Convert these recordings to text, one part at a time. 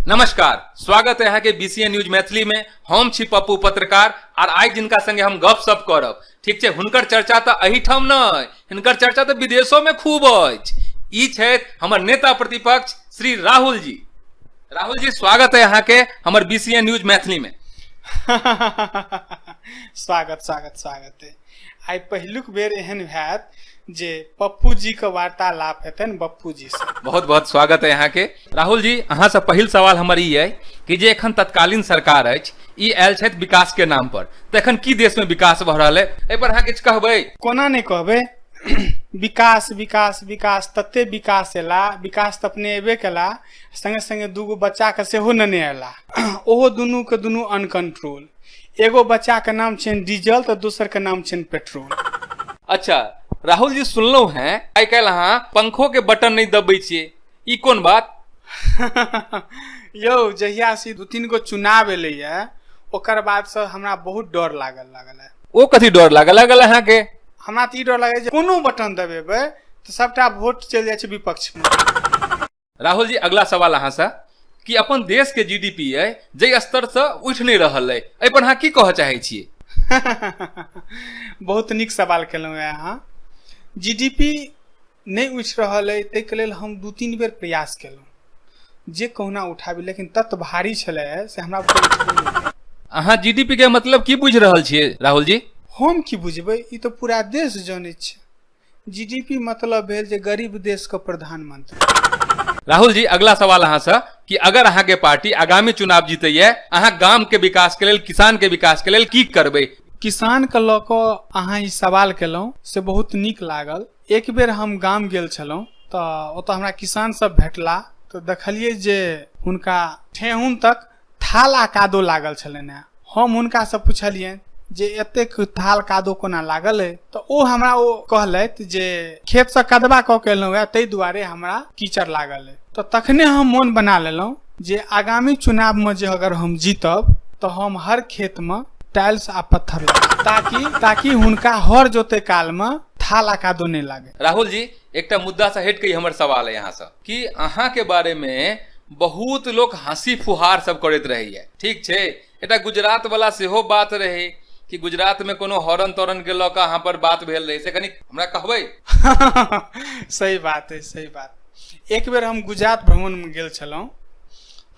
नमस्कार स्वागत है यहाँ के बीसीए न्यूज मैथिली में हम छी पप्पू पत्रकार आर आइ जिनका संगे हम गप सप करब ठीक छै हुनकर चर्चा तऽ एहिठाम नहि हिनकर चर्चा तऽ विदेशो में खूब अछि ई छथि हमर नेता प्रतिपक्ष श्री राहुल जी राहुल जी स्वागत है यहाँ के हमर बीसीए न्यूज मैथिली में स्वागत स्वागत स्वागत है आइ पहिलुक बेर एहन होयत जे पप्पू जी के वार्तालाप हेतनि पप्पू जी से बहुत बहुत स्वागत है यहाँ के राहुल जी अहाँ से पहिल सवाल हमर ई है कि जे एखन तत्कालीन सरकार अछि ई आयल छथि विकास के नाम पर तऽ एखन की देश में विकास भऽ रहल है एहि पर अहाँ किछु कहबै कोना नहि कहबै विकास विकास विकास तते विकास एला विकास तऽ अपने एबे केला संगे संगे दूगो बच्चा के सेहो नेने अयला ओहो दुनू के दुनू अनकंट्रोल एगो बच्चा के नाम छनि डीजल तऽ दोसर के नाम छनि पेट्रोल अच्छा राहुल जी सुनलहुँ हैं आइ काल्हि अहाँ पंखो के बटन नहि दबै छियै ई कोन बात यौ जहिया से दू तीन गो चुनाव एलैया ओकर बाद से हमरा बहुत डर लागल लागल है ओ कथी डर लागल लागल अहाँके हमरा तऽ ई डर लागै जे कोनो बटन दबेबै तऽ सभटा वोट चलि जाइ छै विपक्ष मे राहुल जी अगला सवाल अहाँसँ कि अपन देश के जीडीपी अइ जाहि स्तर से उठि नहि रहल अइ एहि पर अहाँ की कहऽ चाहै छियै बहुत नीक सवाल केलहुँ हैं अहाँ जीडीपी नहि उठि रहल अइ ताहिके लेल हम दू तीन बेर प्रयास केलहुँ जे कहुना उठाबी लेकिन तत्व भारी छलै से हमरा बुझल अहाँ जीडीपी के मतलब की बुझि रहल छियै राहुल जी हम की बुझबै ई तऽ पूरा देश जनैत छै जीडीपी मतलब भेल जे गरीब देश के प्रधानमंत्री राहुल जी अगला सवाल अहाँ से कि अगर अहाँ के पार्टी आगामी चुनाव जीतैया अहाँ गाम के विकास के लेल किसान के विकास के लेल की करबै किसान के लऽ कऽ अहाँ ई सवाल केलहुँ से बहुत नीक लागल एक बेर हम गाम गेल छलहुँ तऽ ओतऽ हमरा किसान सब भेटला तऽ देखलियै जे हुनका ठेहुन तक थाल आ कादो लागल छलनि हेँ हम हुनकासँ पुछलियनि जे एतेक थाल कादो कोना लागल अइ तऽ ओ हमरा ओ कहलथि जे खेतसँ कदबा कऽ के एलहुँ हँ ताहि दुआरे हमरा कीचड़ लागल अइ तऽ तखने हम मोन बना लेलहुँ जे आगामी चुनावमे जे अगर हम जीतब तऽ हम हर खेतमे टाइल्स आ पत्थर लगाएब ताकि ताकि हुनका हर जोते कालमे थाल आ कादो नहि लागे राहुल जी एकटा मुद्दासँ हटि कऽ ई हमर सवाल अइ अहाँसँ कि अहाँके बारेमे बहुत लोक हँसी फुहार सब करैत रहैए ठीक छै एकटा गुजरातवला सेहो बात रहै कि गुजरातमे कोनो हॉर्न तॉर्नके लऽ कऽ अहाँपर बात भेल रहै से कनि हमरा कहबै सही बात अइ सही बात एक बेर हम गुजरात भ्रमणमे गेल छलहुँ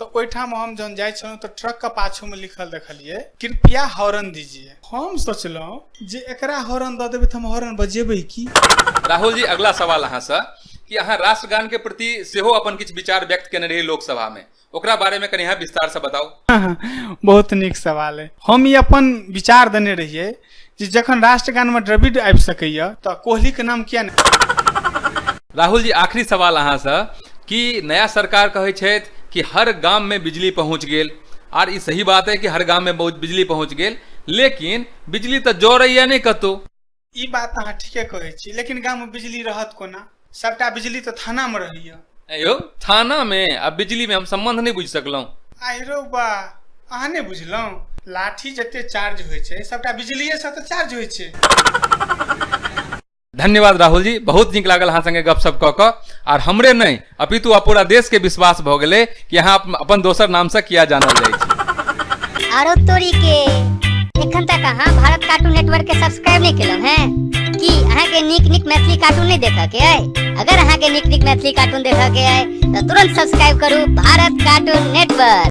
तऽ ओहिठाम हम जहन जाइ छलहुँ तऽ ट्रकके पाछूमे लिखल देखलियै कृपया हॉर्न दीजिए हम सोचलहुँ जे एकरा हॉर्न दऽ देबै तऽ हम हॉर्न बजेबै की राहुल जी अगला सवाल अहाँसँ कि अहाँ राष्ट्रगानके प्रति सेहो अपन किछु विचार व्यक्त केने रही लोकसभामे ओकरा बारेमे कनि अहाँ विस्तारसँ बताउ बहुत नीक सवाल अइ हम ई अपन विचार देने रहियै जे जखन राष्ट्रगान में द्रविड आबि सकैया तऽ कोहली के नाम किया ने राहुल जी आखिरी सवाल अहाँ से कि नया सरकार कहै छथि कि हर गाम में बिजली पहुंच गेल आर ई सही बात है कि हर गाम में बहुत बिजली पहुंच गेल लेकिन बिजली तऽ जरैया नहि कतौ ई बात अहाँ ठीके कहै छी लेकिन गाम में बिजली रहत कोना सबटा बिजली तऽ थाना में रहैया ऐं यौ थाना मे आ बिजली मे हम संबंध नहि बुझि सकलहुँ आहिरो बा अहाँ नहि बुझलहुँ लाठी जते चार्ज होइ छै सबटा बिजलिये से तऽ चार्ज होइ छै धन्यवाद राहुल जी बहुत नीक लागल अहाँ संगे गपशप कऽ कऽ आर हमरे नहि अपितु आ पूरा देश के विश्वास भऽ गेलै कि अहाँ अपन- अपन दोसर नामसँ किया जानल जाइ छी आरो तोरी के एखन तक अहाँ भारत कार्टून नेटवर्क के सब्सक्राइब नहीं केलहुं हैं की अहाँ के नीक नीक मैथिली कार्टून नहीं देखा के है अगर अहाँ के नीक नीक मैथिली कार्टून देखा के है तो तुरंत सब्सक्राइब करू भारत कार्टून नेटवर्क